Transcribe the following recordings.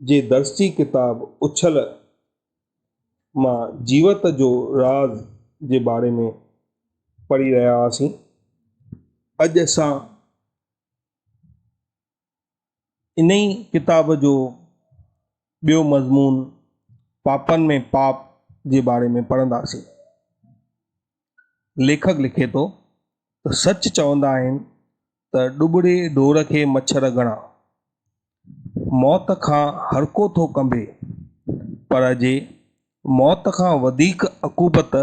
جي درسي ڪتاب اڇل مان جيوت جو راز جي باري ۾ پڙهي رهيا هئاسين. اڄ اسان انهي ڪتاب جو ٻيو مضمون پاپن ۾ پاپ جي باري ۾ پڙهنداسين. ليکڪ لکي ٿو ته سچ چوندا آهن ته ڏٻڙي ڍور کي مڇر گهڻا. موت کان هرڪو ٿو ڪنبي، پر جي موت کان وڌيڪ عقوبت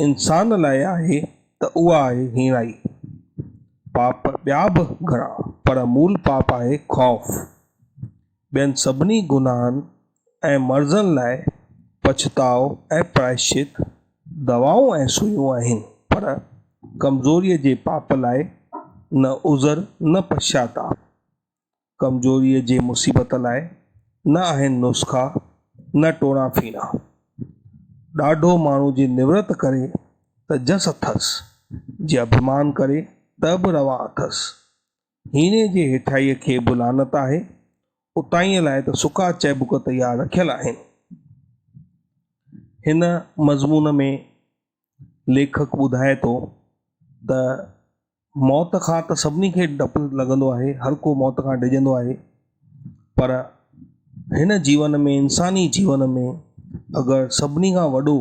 انسان لاء آهي ته اها آهي هيڻائي. پاپ ٻيا به گهڻا، پر مول پاپ آهي خوف. ٻين سڀني گناهن ۽ مرضن لاء پڇتاء ۽ پرائشچت، دوائون ۽ سوئيون آهن، پر ڪمزوريء جي پاپ لاء نه عذر نه پڇتاء، ڪمزوريء جي مصيبت لاء نه آهن نسخا نه ٽوڻا ڦيڻا. ڏاڍو ماڻهو جي نورت ڪري ته جس اٿس، جي اڀمان ڪري ته به روا اٿس، هينئين جي هيٺائيء کي به لعنت آهي، اتائينء لاء ته سڪا چئبڪ تيار رکيل آهن. هن مضمون ۾ ليکڪ ٻڌائي ٿو ته موت کان ته سڀني کي ڊپ لڳندو آهي، هر ڪو موت کان ڊڄندو آهي، پر هن جيون ۾ انساني جيون ۾ اگر سڀني کان وڏو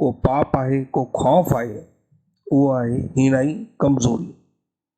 ڪو پاپ آهي، ڪو خوف آهي، اهو آهي هيڻائي، ڪمزوري.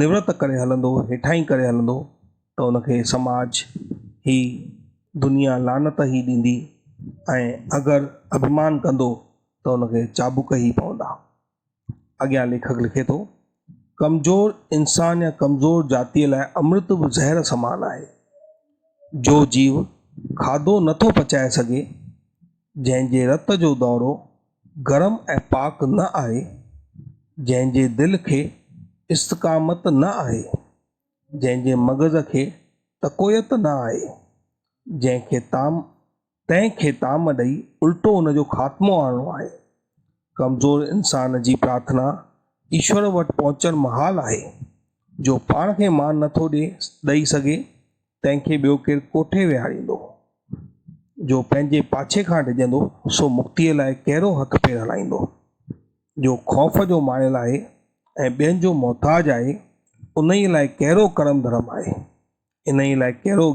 نورت ڪري هلندو هيٺائين ڪري هلندو ته ان کي سماج هي دنيا لعنت هي ڏيندي ۽ اگر اڀمان ڪندو ته ان کي چابڪ هي پوندا اڳيان ليکڪ لکي ٿو ڪمزور انسان يا ڪمزور جاتيء لاء امرت به زهر سمان آهي جو جيو کاڌو نٿو پچائي سگهي جنهن جي رت جو دورو گرم ۽ پاڪ نه آهي، جنهن جي دل کي استقامت نه آهي، جنهن جي مغز کي تقويت نه آهي، جنهن کي طعام تنهن کي طعام ڏئي الٽو ان جو خاتمو آڻڻو آهي. ڪمزور انسان جي پرارٿنا ايشور وٽ پهچڻ محال آهي، جو پاڻ کي مان نٿو ڏئي سگهي، تنهن کي ٻيو ڪير ڪوٺي ويهاريندو؟ جو پنهنجي پاڇي کان ڊڄندو، سو مڪتيء لاء ڪهڙو هٿ پير هلائيندو؟ جو خوف جو مايل آهي ۽ ٻين جو محتاج آهي، انهيء لاء ڪهڙو ڪرم ڌرم آهي؟ انهيء لاء ڪهڙو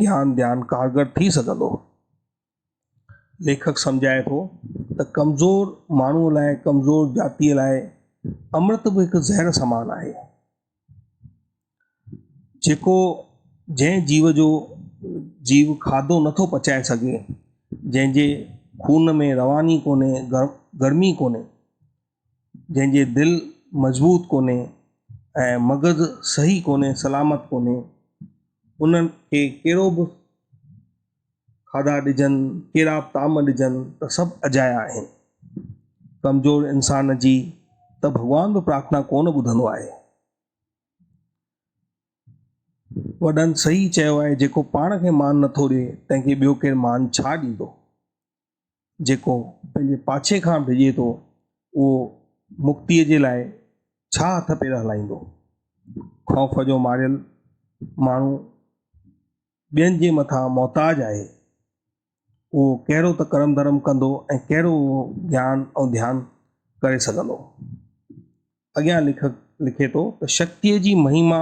گيان ڌيان ڪارگر ٿي سگهندو؟ ليکڪ سمجهائي ٿو ته ڪمزور ماڻهوء لاء، ڪمزور جاتيء لاء امرت به هڪ زهر سمان آهي، جيڪو جنهن جيو جو جيو کاڌو نٿو پچائي سگهي، جنهن جي خون ۾ رواني ڪونهي، گرمي ڪونهي، جنهن جي دل مضبوط ڪونهي ۽ مغز صحيح ڪونهي سلامت ڪونهي انهن کي ڪهڙو به کاڌا ڏجن ڪهڙا به طعام ڏجن ته سڀ اجايا آهن ڪمزور انسان جي ته ڀڳوان به پرارٿنا ڪونه ٻڌندو آهي وڏن صحيح چيو آهي جيڪو پاڻ کي مان نٿو ڏي تنهن کي ٻيو ڪير مان ڇا ڏيندو جيڪو پنهنجي پاڇي کان ڊڄي ٿو، اهو مڪتيء جي لاء ڇا هٿ پير هلائيندو؟ خوف جو ماريل ماڻهو ٻين جي مٿان محتاج آهي، اهو ڪهڙو ته ڪرم ڌرم ڪندو ۽ ڪهڙو اهو گيان ۽ ڌيان ڪري سگهندو؟ اڳيان ليکڪ لکي ٿو ته شڪتيء جي مهيما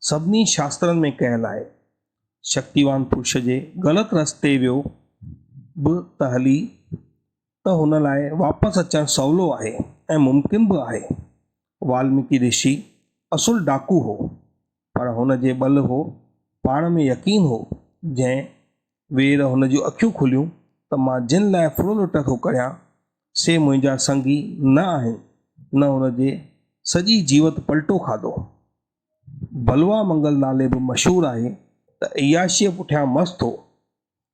سڀني شاسترن ۾ ڪيل آهي. شڪتيوان پرش جي غلط رستي ويو به ته هلي ته هن لاء واپس اچڻ سولو آهي ۽ ممڪن به آهي. والميڪي رشي اصل ڊاڪو هو. پر هن جي ٻل هو، پاڻ ۾ يقين هو، جنهن وير هن جون اکيون کليون ته مان جن لاء ڦڙولٽ ٿو ڪريان، سي منهنجا سنگي نه آهن، نه هن جي سڄي جيوت پلٽو کاڌو. بلوا منگل نالي به مشهور آهي ته عياشيء پٺيان مست هو.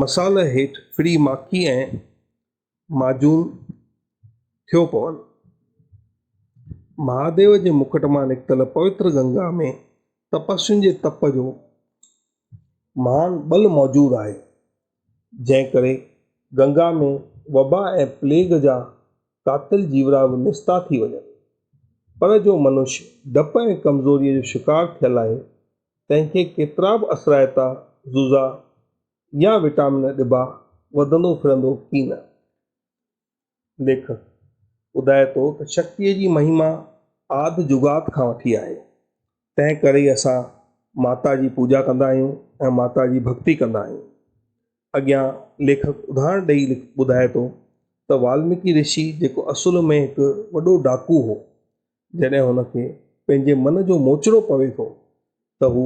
مثال هيٺ ڦري ماکي ۽ ماجون ٿيو پون. مهاديو جي مکٽ مان نڪتل پوتر گنگا ۾ تپسين جي تپ جو مهان ٻل موجود آهي، جنهن ڪري گنگا ۾ وبا ۽ پليگ جا قاتل جيوڙا به نستا ٿي وڃن. پر جو منش ڊپ ۽ ڪمزوريء جو شڪار ٿيل آهي، تنهن کي ڪيترا به اثرائتا، زوزا يا وٽامن ڏبا، وڌندو ڦرندو ڪي نه. ليکڪ ٻڌائي ٿو ته شڪتيء جي مهيما آڌ جگات کان وٺي آهي، تنهن ڪري ئي اسان ماتا جي پوڄا ڪندا آهيون ۽ ماتا جي ڀڳتي ڪندا آهيون. اڳيان ليکڪ اڌاهرڻ ڏئي ٻڌائي ٿو ته والميڪي رشي جيڪو اصل ۾ هڪ وڏو ڊاڪو هو، جڏهن هن کي پنهنجي من جو موچڙو پوي ٿو ته هو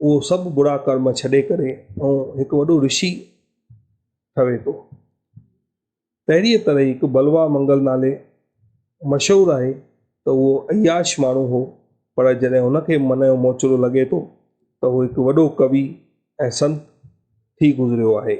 اهو سڀ برا ڪرم ڇڏي ڪري ۽ هڪ وڏو رشي ٺهي ٿو تهڙيء طرح هڪ بلوا منگل نالي مشهور آهي ته اهو اياش ماڻهو هو پر جڏهن هن کي من جو موچڙو لڳي ٿو ته هو هڪ وڏو ڪوي ۽ سنت ٿي گذريو آهي.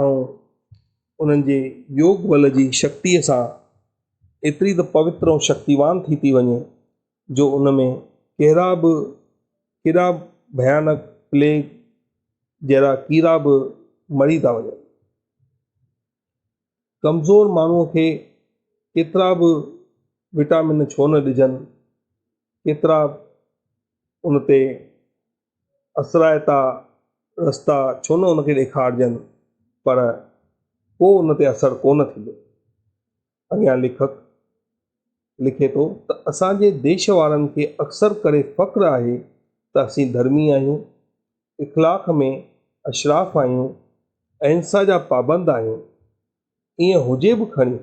۽ انهن جي يوگ بل جي شڪتيء سان ايتري ته پوتر ۽ شڪتيوان ٿي ٿي وڃي جو ان ۾ ڪهڙا به ڪيڏا ڀيانڪ پليگ جهڙا ڪيڙا به مري ٿا وڃن. ڪمزور ماڻهوء کي ڪيترا به وٽامن ڇو نه ڏجن، ڪيترا ان تي اثرائتا رستا ڇو نه ان کي ڏيکارجن پر ڪو ان تي اثر ڪو نه ٿيندو. اڳيان ليکڪ لکي ٿو ته اسان جي ديش وارن کي اڪثر ڪري فخر آهي ته اسين ڌرمي آهيون، اخلاق ۾ اشراف آهيون، اهنسا جا پابند آهيون، ائين هجي به کڻي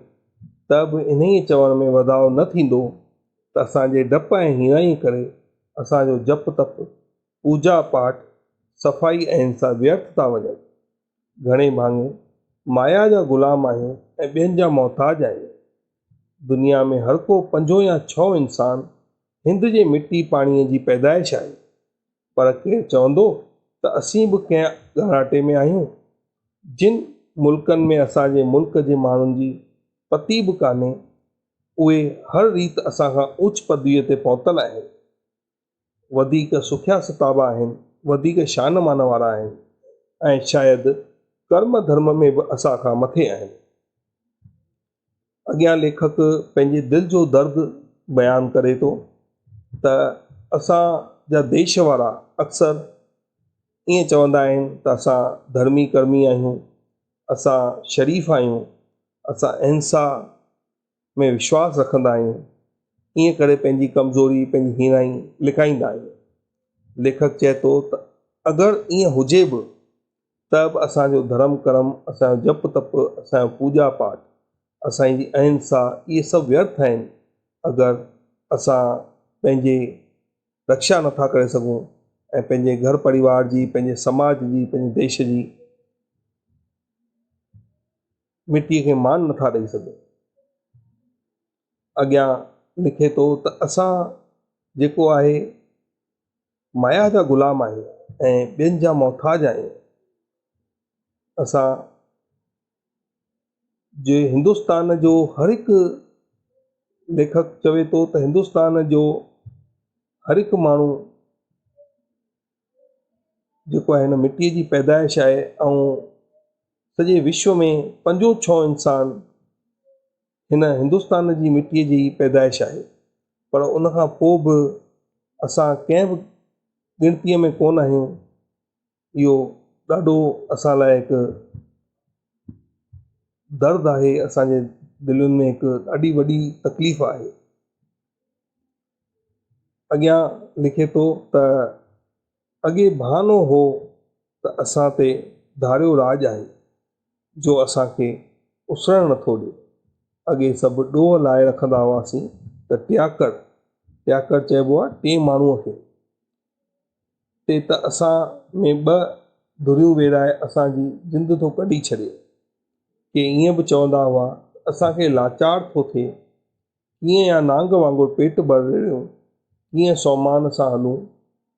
ته به انهيء چوڻ ۾ وڌاء نه ٿيندو ته اسان جي ڊپ ۽ هيڻائيء ڪري اسان جو جپ تپ، پوڄا پاٺ، صفائي ۽ انسان ويرٿ ٿا وڃن. گهڻي ڀاڱي مايا جا غلام آهيون ۽ ٻين جا محتاج آهيون. دنيا ۾ هرڪو پنجون يا ڇهون انسان هند جي مٽي پاڻيء جي پيدائش آهي. پر ڪير چوندو ته اسين به ڪنهن ڳاڙهاٽي ۾ آهيون، جن ملڪن ۾ اسان جي ملڪ جي ماڻهن جي پتي به ڪانهي، اهي هر ريت اسان کان اوچ پدويء تي پهتل آهن، وڌيڪ سکيا ستابا آهن، وڌيڪ شان مان وارا آهن ۽ شايد ڪرم ڌرم ۾ به اسان کان مٿي آهن. اڳيان ليکڪ پنهنجي دل جو درد بيان ڪري ٿو ته اسان جا ديش وارا اڪثر ائين چوندا آهن ته اسان ڌرمي ڪرمي آهيون، اسان شريف آهيون، اسان اهنسا ۾ وشواس رکندا آهيون، ائين ڪري پنهنجي ڪمزوري، پنهنجي هيڻائي لڪائيندا آهيون. ليکڪ چئي ٿو ته اگر ائين هجي به ته به اسان جو ڌرم ڪرم، اسان جو جپ تپ، اسان جو پوڄا پاٺ، اسان جي اهنسا اهي سڀ ويرٿ آهن، اگر اسان پنهنجي رڪشا نٿا ڪري سگهون ۽ پنهنجي گهر پريوار جي، پنهنجي سماج جي، پنهنجي ديش جي مٽيء کي مان نٿا ڏئي سگهون. اڳيان لکي ٿو ته اسان جيڪو آهي. مايا جا غلام آهيون ۽ ٻين جا محتاج آهيون اسان جي هندستان جو هر هڪ ليکڪ چوي ٿو ته هندستان جو هر هڪ ماڻهو جيڪو آهي هن مٽي جي پيدائش آهي ۽ سڄي وشو ۾ پنجون ڇهون انسان هن هندستان جي مٽيء جي ئي پيدائش آهي، پر ان کان پوء به اسان ڪنهن به ڳڻتيء ۾ ڪونه آهيون، اهو ڏاڍو اسان لاء هڪ درد آهي، اسان جي دلين ۾ هڪ ڏاڍي وڏي تڪليف آهي. اڳيان لکي ٿو ته، اڳي بهانو هو ته اسان تي ڌاريو راڄ آهي، جو اسان کي اسرڻ نٿو ڏي. اڳي سڀ ڏوهه لائي رکندا هئاسين ته ٽياڪڙ، ٽياڪڙ چئبو آهي ٽئين ماڻهوء کي، تي ته اسان ۾ ٻه ڌريون ويڙهائي اسان جي جند ٿو ڪڍي ڇڏي. ڪي ائين به چوندا هئا ته اسان کي لاچار ٿو ٿئي. ڪيئن يا نانگ وانگر پيٽ ڀرڙيون، ڪيئن سومان سان هلون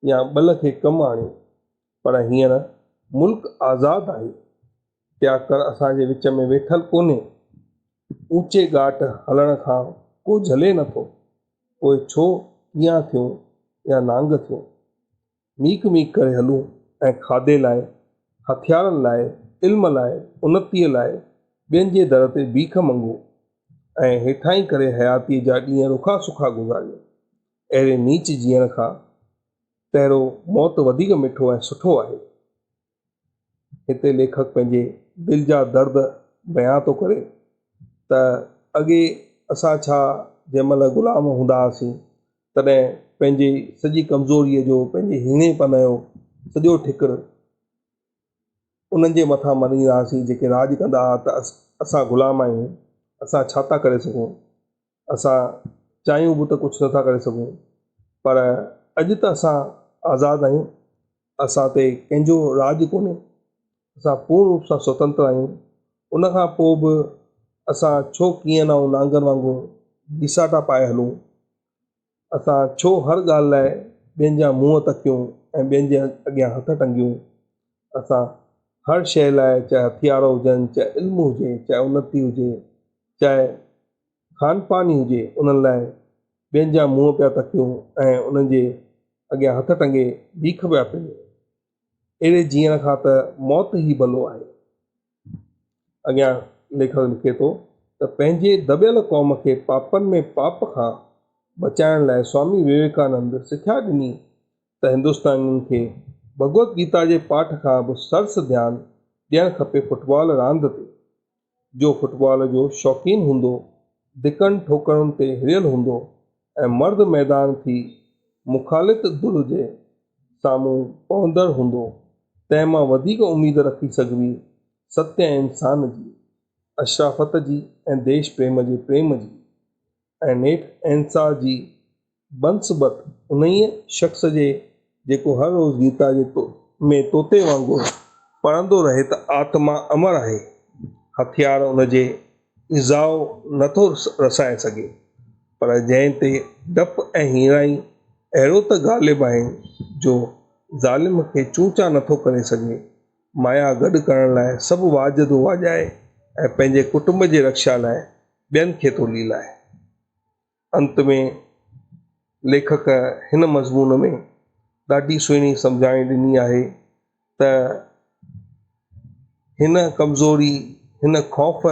يا ٻل کي ڪم آڻيون، پر هينئر ملڪ آزاد آهي، ٽياڪڙ اسان جي وچ ۾ ويٺل ڪونهي، اوچي ڳاٽ هلڻ کان ڪو جهلي نٿو، پوء ڇو ڪيئان ٿيون يا نانگ ٿيون، ميک ميک ڪري هلون ۽ کاڌي لاء، هٿيارن لاء، علم لاء، انتيء لاء ٻين جي در تي بيک منگون ۽ هيٺاهين ڪري حياتيء جا ڏينهن رکا سکا گذاريون. اهڙي نيچ جيئڻ کان تهرو موت وڌيڪ مٺو ۽ سٺو آهي. هتي ليکڪ پنهنجي دل جا درد بيان ٿو ڪري ته اڳي اسان ڇا جنهن مهل غلام هوندا هئاسين تڏهن پنهنجي سڄي ڪمزوريء جو پنهنجي هيڻي پن جو سڄو ٺڪر انهن جي مٿان مڙهيندا هئاسين جيڪي راڄ ڪندا هئا ته اسان غلام آهيون اسان ڇا ٿا ڪري سگهون اسان چاهيون به ته ڪجهه نٿا ڪري سگهون پر اڄ ته اسان آزاد آهيون، اسان تي ڪنهن جو راڄ ڪونهي، اسان پورن روپ سان سوتنتر آهيون، ان کان پوء به اسان ڇو ڪيئن نائون نانگر وانگر گيساٽا پائي هلون؟ اسان ڇو هر ڳالهه لاء ٻين جا منهن تڪيون ۽ ٻين جي اڳيان هٿ ٽنگيون؟ اسان هر شيء لاء چاهي هٿيار هجن، چاهي علم هجي، چاهي انتي هجي، چاهي خانپاني هجي، انهن لاء ٻين جا منهن پيا تڪيون ۽ انهن جي اڳيان هٿ ٽنگي بيک پيا پيون. اهڙي جيئڻ کان ته موت ئي ڀلو آهي. اڳيان ليکڪ لکي ٿو ته پنهنجي دٻيل قوم کي پاپن ۾ پاپ کان بچائڻ لاء سوامي ويويڪانند سکيا ڏني ته هندستانين کي ڀڳوت گيتا جي پاٺ کان به سرس ڌيان ڏيڻ کپي فٽبال راند تي جو فٽبال جو شوقين هوندو، ڌڪن ٺوڪرن تي هريل هوندو ۽ مرد ميدان ٿي مخالط ڌر جي سامهون پوندڙ هوندو، تنهن مان وڌيڪ اميد رکي سگهبي ست ۽ انسان جي، اشرافت جي ۽ ديش پريم جي پريم جي ۽ نيٺ اهنسا جي بنسبت انهيء شخص جي جيڪو هر روز گيتا جي ۾ طوطي وانگر پڙهندو رهي ته آتما امر آهي، هٿيار ان جي ايذاء نه ٿو رسائي سگهي، پر جنهن تي ڊپ ۽ هيڻائي اهڙو ته غالب آهن جو ظالم کي چونچا نه ٿو ڪري سگهي. مايا گڏ ڪرڻ لاء سڀ واڄ ٿو واڄائي ۽ پنهنجي ڪٽنب جي رڪشا لاء ٻين کي ٿو ليلائي. انت ۾ ليکڪ هن مضمون ۾ ڏاڍي سهڻي سمجهاڻي ڏني آهي ته هن ڪمزوري هن خوف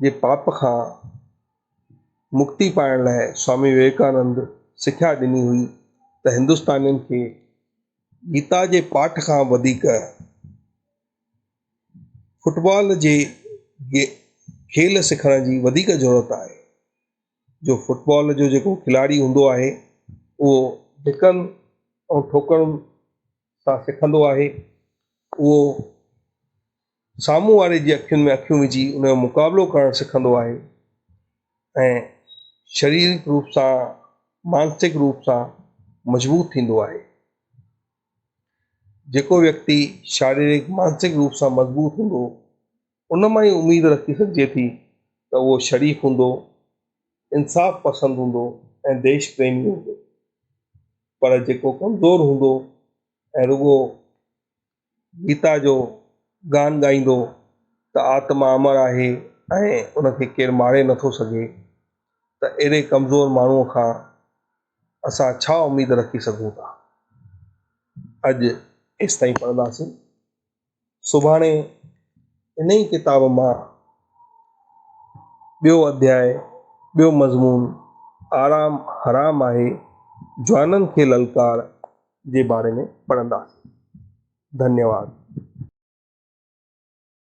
جي پاپ کان مڪتي پائڻ لاء سوامي وويڪانند سکيا ڏني هئي ته هندستانين کي گيتا جي پاٺ کان وڌيڪ فٽبال جي کيل سکڻ جي وڌيڪ ضرورت آهي. جو فٽبال جو جيڪو کلاڙي هوندو آهي اهو ڌڪن ۽ ٺوڪرن سان سکندو آهي اهو سامهون واري جي اکين ۾ اکيون وجهي ان جو مقابلو ڪرڻ سکندو آهي ۽ شريرڪ روپ سان مانسڪ روپ سان مضبوط ٿيندو آهي جيڪو ويڪتي شاريرڪ مانسڪ روپ سان مضبوط هوندو ان مان ئي اميد رکي سگهجي ٿي ته اهو شريف هوندو، انصاف پسند هوندو ۽ ديش پريمي هوندو، پر جيڪو ڪمزور هوندو ۽ رڳو گيتا جو گان ڳائيندو ته آتما امر آهي ۽ ان کي ڪير ماري نٿو سگهي ته اهڙي ڪمزور ماڻهوء کان اسان ڇا اميد رکي سگهون ٿا. اڄ ايستائين پڙهنداسين. سڀاڻي ان ئي ڪتاب مان ٻيو اڌياء، ٻيو مضمون آرام حرام آهي، جوانن کي للڪار جي باري ۾ پڙهنداسين. ڌنيواد.